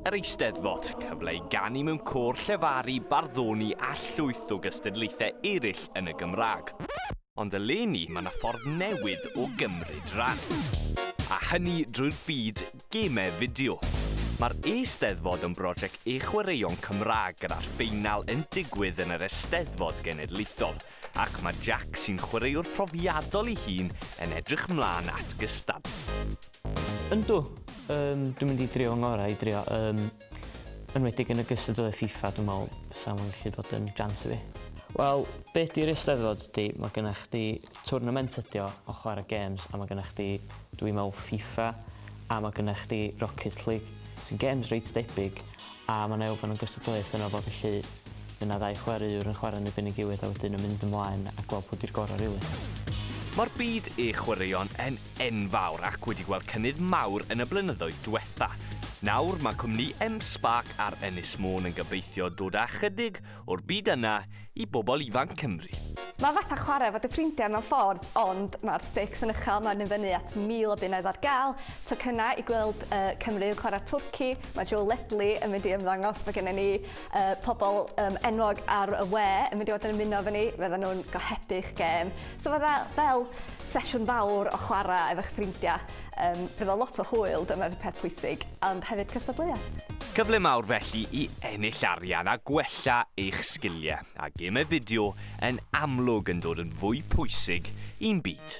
Yr Eisteddfod, cyfle i ganu mewn côr, llefaru, barddoni a llwyth o gystadlaethau eraill yn y Gymraeg. Ond eleni mae 'na ffordd newydd o gymryd ran. A hynny drwy'r byd gemau fideo. Mae'r Eisteddfod yn brosiect e-chwaraeon Cymraeg gyda'r ffeinal yn digwydd yn yr Eisteddfod Genedlaethol. ac mae Jac sy'n chwaraewr profiadol ei hun yn edrych mlaen at gystadlu. Yndw, um, dwi'n mynd i drio ngorau i drio, um, enwedig yn y gystadleuaeth FIFA, dwi'n meddwl sa'n mwyn gallu bod yn jans i fi. Wel, be di'r eisteddfod di? Mae gennych chdi twrnament ydi o, o chwarae games, a mae gennych chdi, dwi'n meddwl, FIFA, a mae gennych chdi Rocket League, sy'n games reit debyg, A mae 'na elfen o gystadleuaeth yno fo felly fydd 'na ddau chwaraewr yn chwarae yn erbyn ei gilydd a wedyn yn mynd ymlaen a gweld pwy 'di'r gorau rili. Mae'r byd e chwaraeon yn enfawr ac wedi gweld cynnydd mawr yn y blynyddoedd diwetha'. Nawr mae cwmni M-Spark ar Ynys Môn yn gobeithio dod â chydig o'r byd yna i bobl ifanc Cymru. Mae fatha chwarae efo dy ffrindiau mewn ffordd, ond mae'r stakes yn uchel, mae i fyny at 1,000 o bunnoedd ar gael, tocynnau i gweld Cymru yn chwarae Twrci, mae Joe Ledley yn mynd i ymddangos, mae gennym ni pobl enwog ar y we yn mynd i fod yn ymuno efo ni, fyddan nhw'n gohebu'ch gêm. So fatha fel sesiwn fawr o chwarae efo'ch ffrindiau. Um, bydd o lot o hwyl, dyna'r peth pwysig, ond hefyd cystadleuaeth. Cyfle mawr felly i ennill arian a gwella eich sgiliau, a gemau fideo yn amlwg yn dod yn fwy pwysig i'n byd.